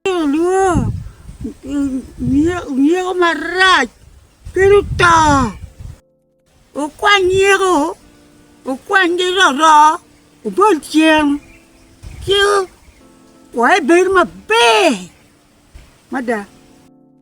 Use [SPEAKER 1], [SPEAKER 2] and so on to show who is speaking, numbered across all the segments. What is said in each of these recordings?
[SPEAKER 1] Ci olwongo nyeko marac kit oto, okwany nyeko okwany ki roro obol cen ci wek ebed maber mada.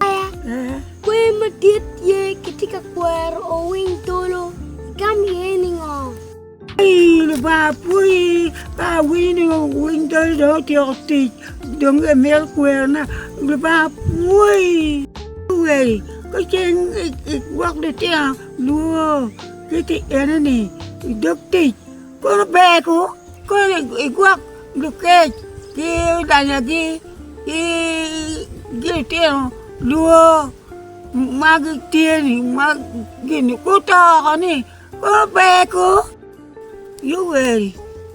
[SPEAKER 1] Kwer madit tye kitye ka kwero owiny tolo, igam iye ningo? Ii, Lubanga apwoyi ka awinyo ni owiny tolo dong otyeko tic, dong imito kwerona. Lubanga apwoyi. Luweri, ka cen igwok lutino lwor kit i enoni i dog tic, Kono ber ku kono igwok lukec ki olanyagi ki lutino lwor ma gitye-ni ma gin-ni guto oko-ni, kono ber ku ioweri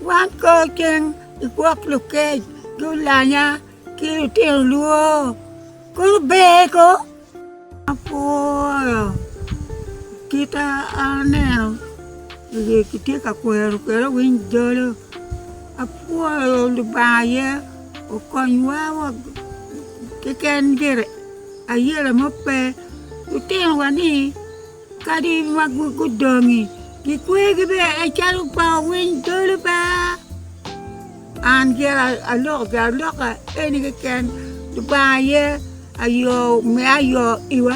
[SPEAKER 1] wan kono cen igwok lukec ki olanya ki lutino lwor kono ber ko. Apwoyo kita aneno oye kitye ka kwero kwede owiny jolo apwoyo Lubanga aye okonywa wa keken gire ayelo mo pe lutinowa ni Kadi ma gudongi, gikwegi bene en calo pa owiny dolo ba. An gin aloko gin aloka eni keken Lubanga aye ayo me ayo iwa.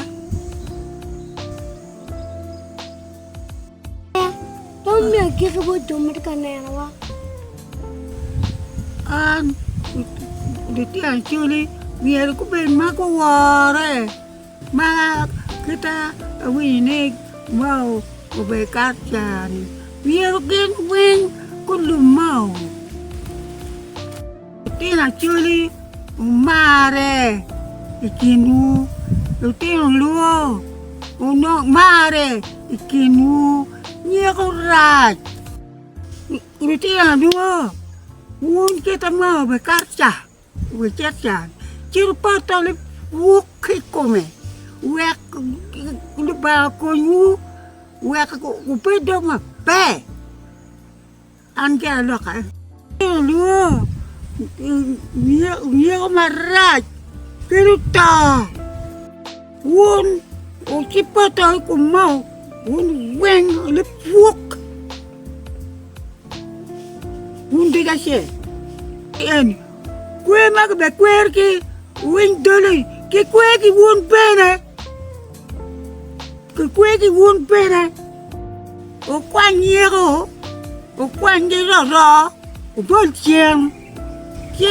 [SPEAKER 1] Pwony me agikki bot jo ma tye ka nenowa. An litino acoli myero gubed ma guwore. Mar kita awinyo ni Mao obedo kato caa-ni. Myero gin weng gulub Mao. Litino Acholi wumarre i kinwu. Litino Luo wunong marre i kinwu. Nyeko rac. Litino Luo wun kita Mao obekato caa. Wicit can, ci wupotone buk ki i kome, wek Lubanga okonywu, wek wubed dong maber. An ki aloka. Olwo nyeko marac, kadi oto. Wun wucipoto i kom moo, wun weng lipwok, wun dek acel. En kwer ma kibekwer ki winy doli, kikwer ki wun bene, kikwer ki wun bene. Wukwany yeko, wukwany ki roro, wubol ceng, ci